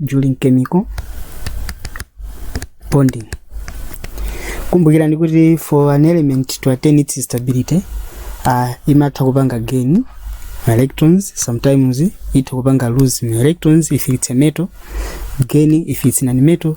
during chemical bonding kumbukirani kuti for an element to attain its stability uh, imatha kupanga gain ma electrons sometimes itha kupanga lose ma electrons if it's a metal gain if it's non metal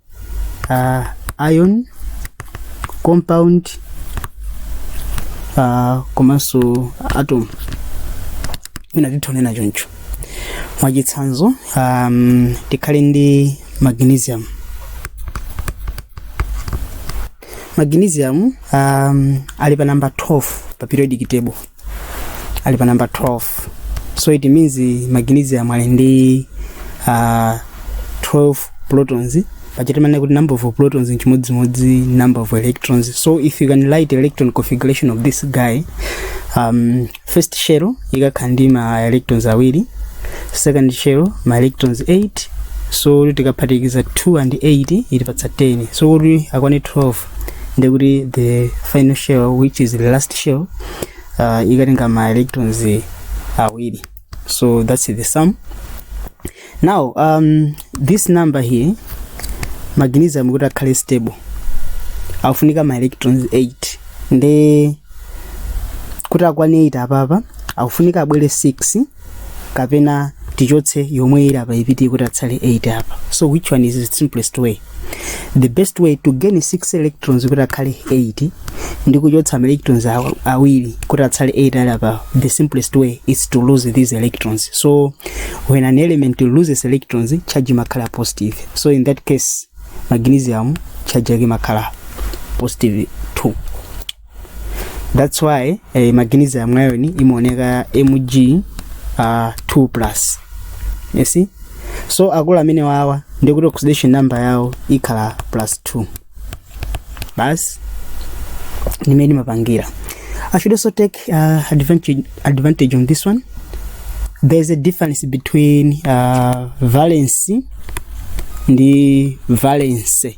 uh, ion compound uh, komanso atom ina titha kunena choncho mwachitsanzo um, tikhale ndi magnesium magnesium um, ali pa namba 12 pa periodic table ali pa namba 12 so it means magnesium ali ndi uh, 12 protons paja timanena kuti number of protons nchimodzimodzi number of electrons so if you can write electron configuration of this guy um, first shell ikhala ndi ma electrons awiri second shell ma electrons 8 so tikaphatikiza 2 and 8 itipatsa 10 so kuti akwane 12 ndiye kuti the final shell which is the last shell uh, itenga ma electrons awiri so that's the sum now um, this number here magnesium kuti akhale stable akufunika ma electrons 8 nde kuti akwane 8 apapa akufunika abwere 6 kapena tichotse omwe ali apa apite kuti atsale 8 apa so which one is the simplest way the best way to gain 6 electrons kuti akhale 8 ndi kuchotsa ma electrons aw- awiri kuti atsale 8 ali apa the simplest way is to lose these electrons so when an element loses electrons charge imakhala positive so in that case magnesium charge yake imakhala positive 2 that's why eh, magnesium ion imaoneka mg uh, 2 plus you see so akulu amene wawa ndikuti oxidation number yawo ikhala plus 2 basi nimene mapangira i should also take uh, advantage, advantage on this one there's a difference between uh, valency ndi valence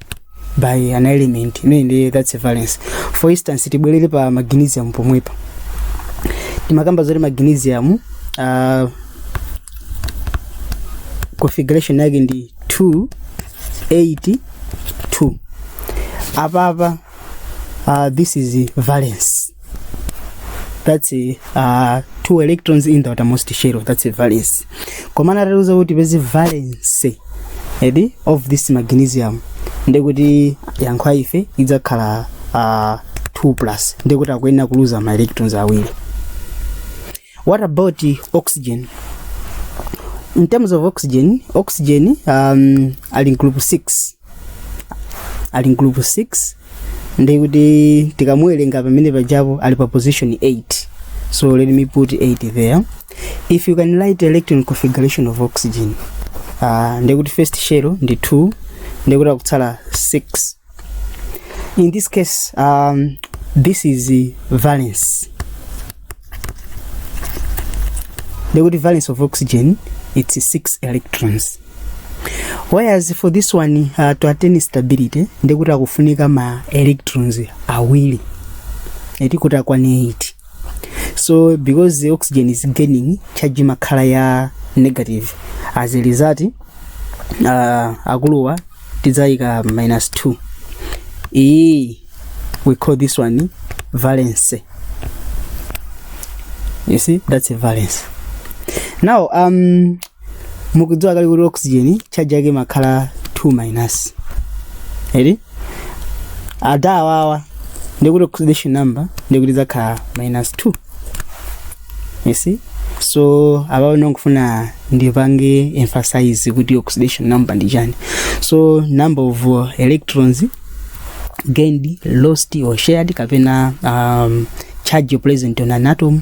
by an element imene ndi that's a valence for instance tibwerere pa magnesium pomwepa timakamba zoti magnesium uh, configuration yake ndi 2 8 2 apapa uh, this is valence that's uh, two electrons in the outermost shell that's a valence koma atatiuza kuti tipeze valency of this magnesium ndekuti yankho la ife idzakhala uh, 2 plus ndekuti akuyenera kuluza ma electrons awiri what about oxygen in terms of oxygen oxygen um, ali mgroup 6 ali mgroup 6 ndi kuti tikamuwerenga pamene pajapo ali pa position 8 so let me put 8 there if you can write electron configuration of oxygen uh, ndi kuti first shell ndi 2 ndi kuti akutsala 6 in this case um, this is the valence ndi kuti valence of oxygen it's 6 electrons whereas for this one uh, to attain instability ndekuti akufunika ma electrons awiri eti kuti akwane 8 so because the oxygen is gaining charge imakhala ya negative as a result uh, akuluwa tidzayika minus 2 iyi we call this one valence you see that's a valence now um mukudziwa kale kuti oxygen charge yake imakhala 2 minus eri adawawa ndikuti oxidation number ndikuti izakhala minus 2 you see so apapa ndikufuna ndipange emphasize kuti oxidation number ndi chani so number of uh, electrons gained lost or shared kapena um, charge present on an atom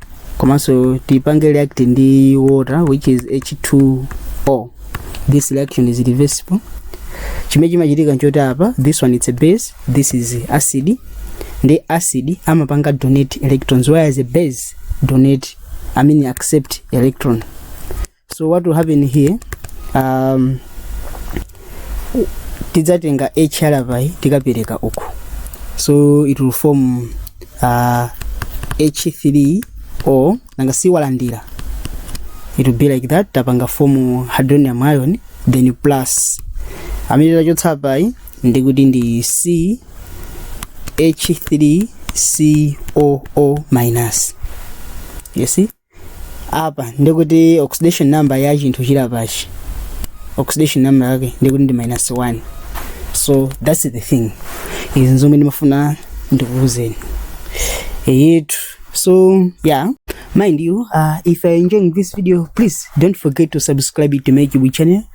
komanso tipange react ndi water which is h2o this reaction is reversible chimene chimachitika nchoti apa this one it's a base this is acid nde acid amapanga donate electrons whereas a base donate i mean accept electron so what will happen here um, tidzatenga h ali apayi tikapereka uku so it will form uh, h3 o nanga si walandira it will be like that tapanga form hydronium ion then plus amene tachotsa apayi ndi kuti ndi c h3 coo minus you see apa ndikuti oxidation number ya chinthu chilapachi oxidation number yake ndikuti ndi minus 1 so that's the thing izi nzomwe ndimafuna ndikuuzeni eyetu so yeah mind you uh, if you are enjoying this video please don't forget to subscribe to my youtube channel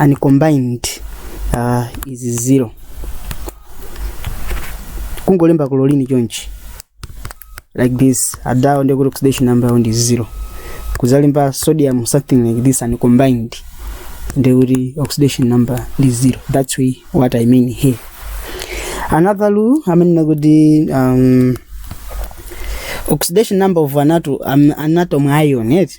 uncombined uh, is zero kungolemba chlorine chonchi like this adawo ndekuti oxidation number yawo ndi zero kuzalemba sodium something like this uncombined ndekuti oxidation number ndi zero that's what i mean here another rule amenena kuti um, oxidation number of an atom, um, an atom ion eti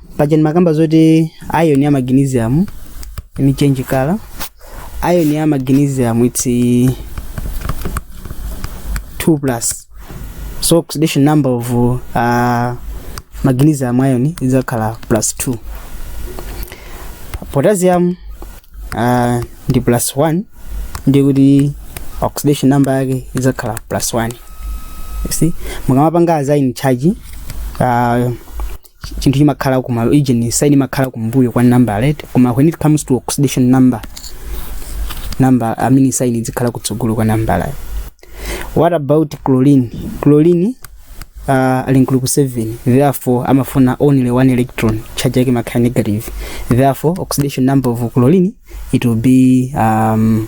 paja ndimakamba zoti ion ya magnesium let me change color ion ya magnesium it's eh, 2 plus so oxidation number of uh, magnesium ion idzakhala plus 2 potassium uh, ndi plus 1 ndi kuti oxidation number yake idzakhala plus 1 you see mukamapanga as in charge uh, chinthu chimakhala kuma region sign imakhala kumbuyo kwa number right koma when it comes to oxidation number number i mean sign izikhala kutsogolo kwa number right what about chlorine chlorine uh, ali mu group 7 therefore amafuna only one electron charge yake imakhala negative therefore oxidation number of chlorine it will be um,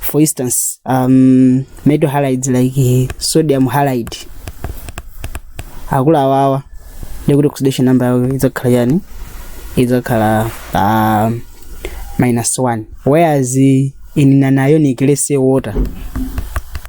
for instance um, metal halides like sodium halide akula awawa ndekuti oxidation number yawo idzakhala chani idzakhala pa minus 1 whereas in an ionic let's say water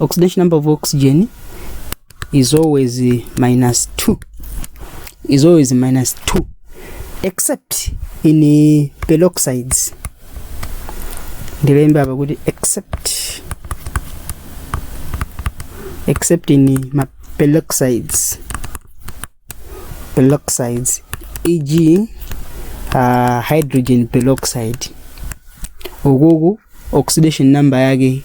oxidation number of oxygen is always uh, minus 2 is always minus 2 except in uh, peroxides ndilembe apa kuti except except in uh, ma peroxides peroxides eg uh, hydrogen peroxide ukuku oxidation number yake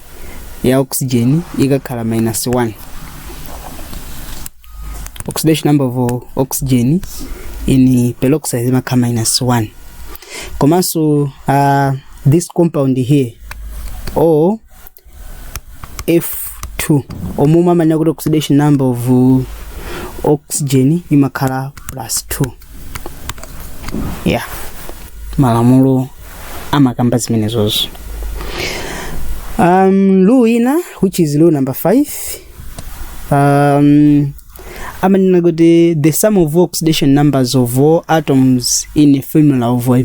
ya oxygen ikakhala minus 1 oxidation number of oxygen in peroxide imakhala minus 1 komanso uh, this compound here o f2 omwe timanena kuti oxidation number of uh, oxygen imakhala plus 2 yeah malamulo amakamba zimenezozo um, rule ina which is rule number 5 um, amanena kuti the sum of oxidation numbers of all atoms in a formula of a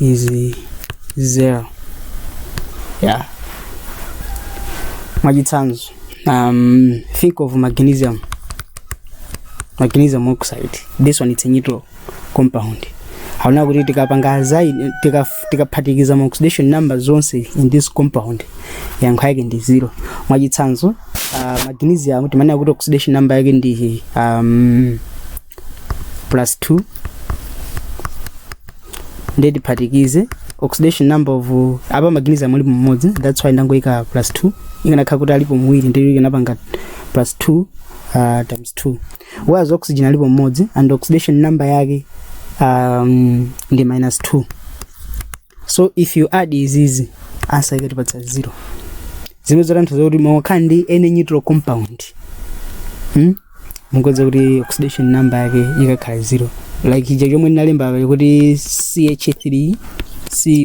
is zero yeah mwachitsanzo um, think of magnesium magnesium oxide this one it's a neutral compound taona kuti tikapanga zaidi tika- tikaphatikiza ma oxidation number zonse in this compound yankho yake ndi zero mwachitsanzo uh, magnesium timanena kuti oxidation number yake ndi um, plus 2 ndiye tiphatikize oxidation number of apa magnesium alipo mmodzi that's why ndangoyika plus 2 ikanakhala kuti alipo awiri ndiye ikanapanga plus 2 uh, times 2 whereas oxygen alipo mmodzi and oxidation number yake um, ndi minus 2 so if you add izizi answer ikatipatsa zero zimene zotanthauza kuti mukakhala ndi any neutral compound hmm? mukudziwa kuti oxidation number yake ikakhala zero like ija chomwe ndinalemba apa kuti ch3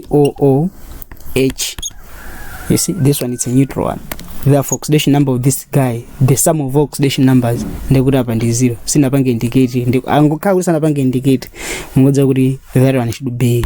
cooh you see this one it's a neutral one therefore oxidation number of this guy the sum of all oxidation numbers ndekuti apa ndi zero sinapange indicate ndi angokhala kuti sanapange indicate mukudziwa kuti that one should be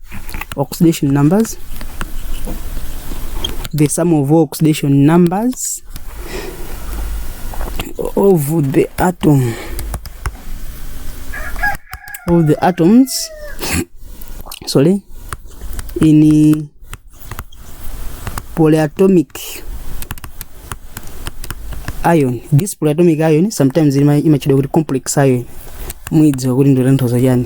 oxidation numbers the sum of all oxidation numbers of the atom of the atoms sorry in polyatomic ion this polyatomic ion sometimes ima- imatchedwa kuti complex ion muzidziwa kuti ndikutanthauza chani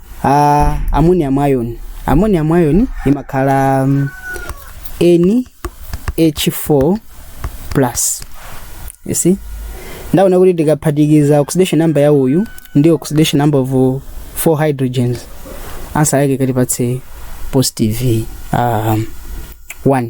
Ah, ammonium ion ammonium ion imakhala mm, NH4 plus you see ndaona kuti tikaphatikiza oxidation number ya uyu ndi oxidation number of uh, four hydrogens answer yake ikatipatse positive um, 1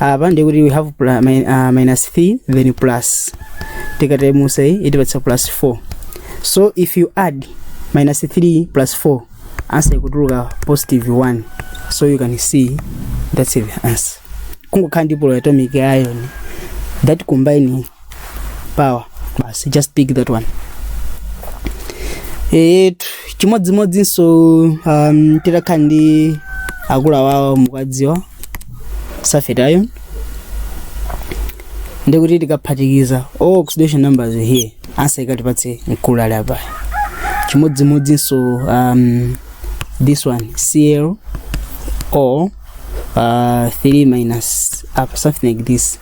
apa ndiye kuti we have pla, mi, uh, minus 3 then plus tikataimusa iyi itipatsa plus 4 so if you add minus 3 plus 4 answer ikutuluka positive 1 so you can see that's the answer kungokhala ndi polyatomic ion that combine power basi just pick that one e, chimodzimodzinso um, titakhala ndi akulu awawo mukadziwa sulfate ion ndikuti tikaphatikiza all oxidation numbers here answer ikatipatse mkulu ali apa chimodzimodzinso um, this one cl o uh, 3 minus up something like this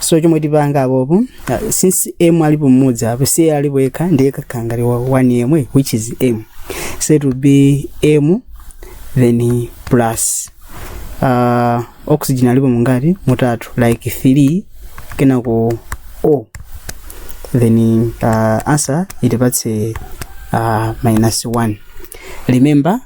so chomwe tipanga apopo ah, since m alipo mmodzi apo si alipo yekha ndiye akhala ngati 1 yemwe which is m so it will be m then plus uh, oxygen alipo mungati mutatu like 3 kenako o then uh, answer itipatse uh, minus 1 remember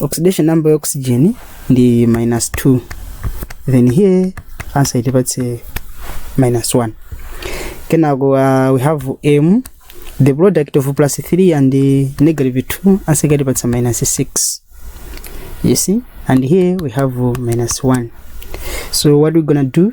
oxidation number ya oxygen ndi minus 2 then here answer itipatse minus 1 kenako uh, we have m the product of plus 3 and uh, negative 2 answer ikatipatsa minus 6 you see and here we have uh, minus 1 so what we gonna do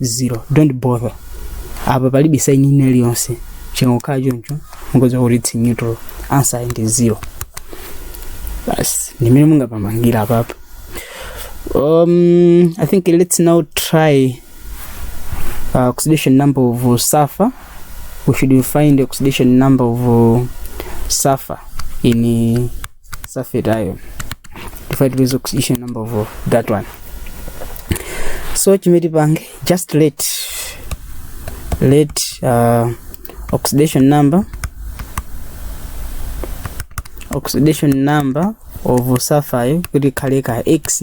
zero don't bother apa palibe saini ina iliyonse chingokhala choncho mungodziwa kuti it's neutral answer ndi zero basi ndimene mungamapangire apapa um, i think let's now try uh, oxidation number of uh, sulfur we should find oxidation number of uh, sulfur in uh, sulfate ion tufai tipeze oxidation number of that one so chimene tipange just let let uh, oxidation number oxidation number of sulfide kuti ikhale ka x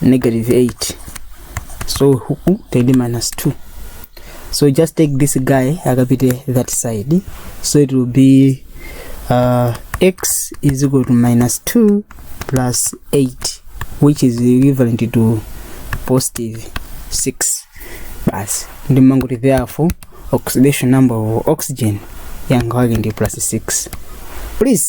negative 8 so huku tili ndi minus 2 so just take this guy akapite that side so it will be uh, x is equal to minus 2 plus 8 which is equivalent to positive 6 basi ndimangoti therefore oxidation number of oxygen yanga wake ndi plus 6 please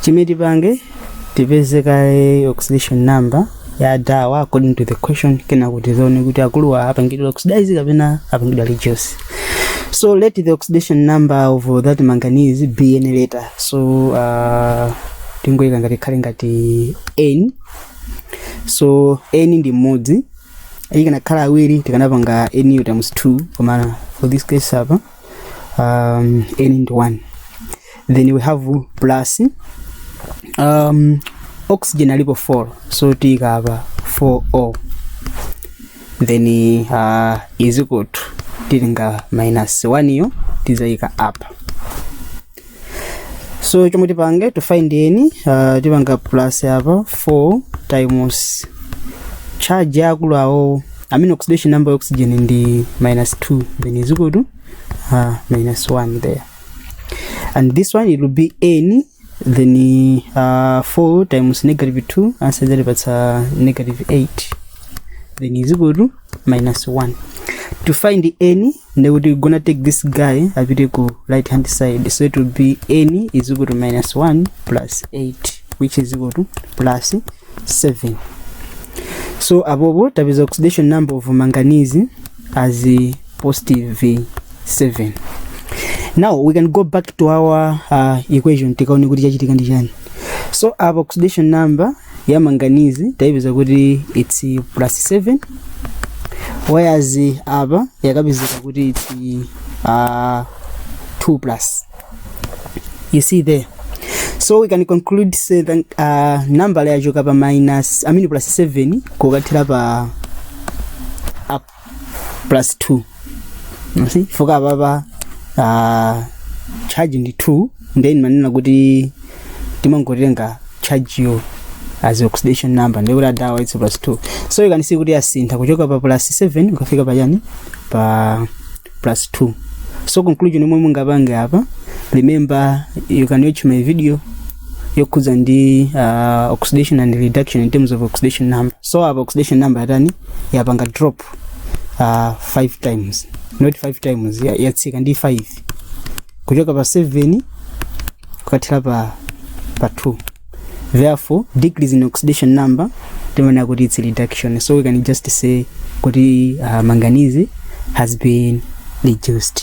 chimene tipange tipeze kaye oxidation number ya adawa according to the question kenako tidzaone kuti akuluwa apangidwa oxidize kapena apangidwa reduce so let the oxidation number of that manganese be any letter so uh, tingoyika ngati ikhale ngati n so n ndi mmodzi akanakhala awiri tikanapanga n times 2 koma for this case apa um, n into 1 then we have plus um, oxygen alipo 4 so tiyika apa 4o then uh, is equal to tilinga minus 1 yo tizayika apa so chomwe tipange to find n uh, tipanga plus apa 4 times charge yakulu awo amene oxidation number ya oxygen ndi minus 2 then is equal to uh, minus 1 there and this one it will be n then uh, 4 times negative 2 answer zatipatsa negative 8 then is equal to minus 1 to find n then we're gonna take this guy apite ku right hand side so it will be n is equal to minus 1 plus 8 which is equal to plus 7 so apopo tapeza oxidation number of manganese as a positive 7 now we can go back to our uh, equation tikaone kuti chachitika ndi chani so our oxidation number ya manganese taipeza kuti it's plus 7 whereas apa yakapezeka kuti it's uh, 2 plus you see there so we can conclude say that uh, number yachoka pa minus I mean plus 7 kukathera pa up plus 2 You see? chifukwa apapa uh, charge ndi 2 ndiye ndimanena kuti timangotenga charge yo as oxidation number ndikuti adawa it's plus 2 so you can see kuti yasintha kuchoka pa plus 7 kukafika pa chani pa plus 2 so conclusion yomwe mungapange apa remember you can watch my video yokhudza ndi uh, oxidation and reduction in terms of oxidation number so apa oxidation number yatani yapanga drop uh, 5 times not 5 times ya- yatsika ndi 5 kuchoka pa 7 kukathera pa pa 2 therefore decrease in oxidation number timaona kuti its reduction so we can just say kuti uh, manganese has been reduced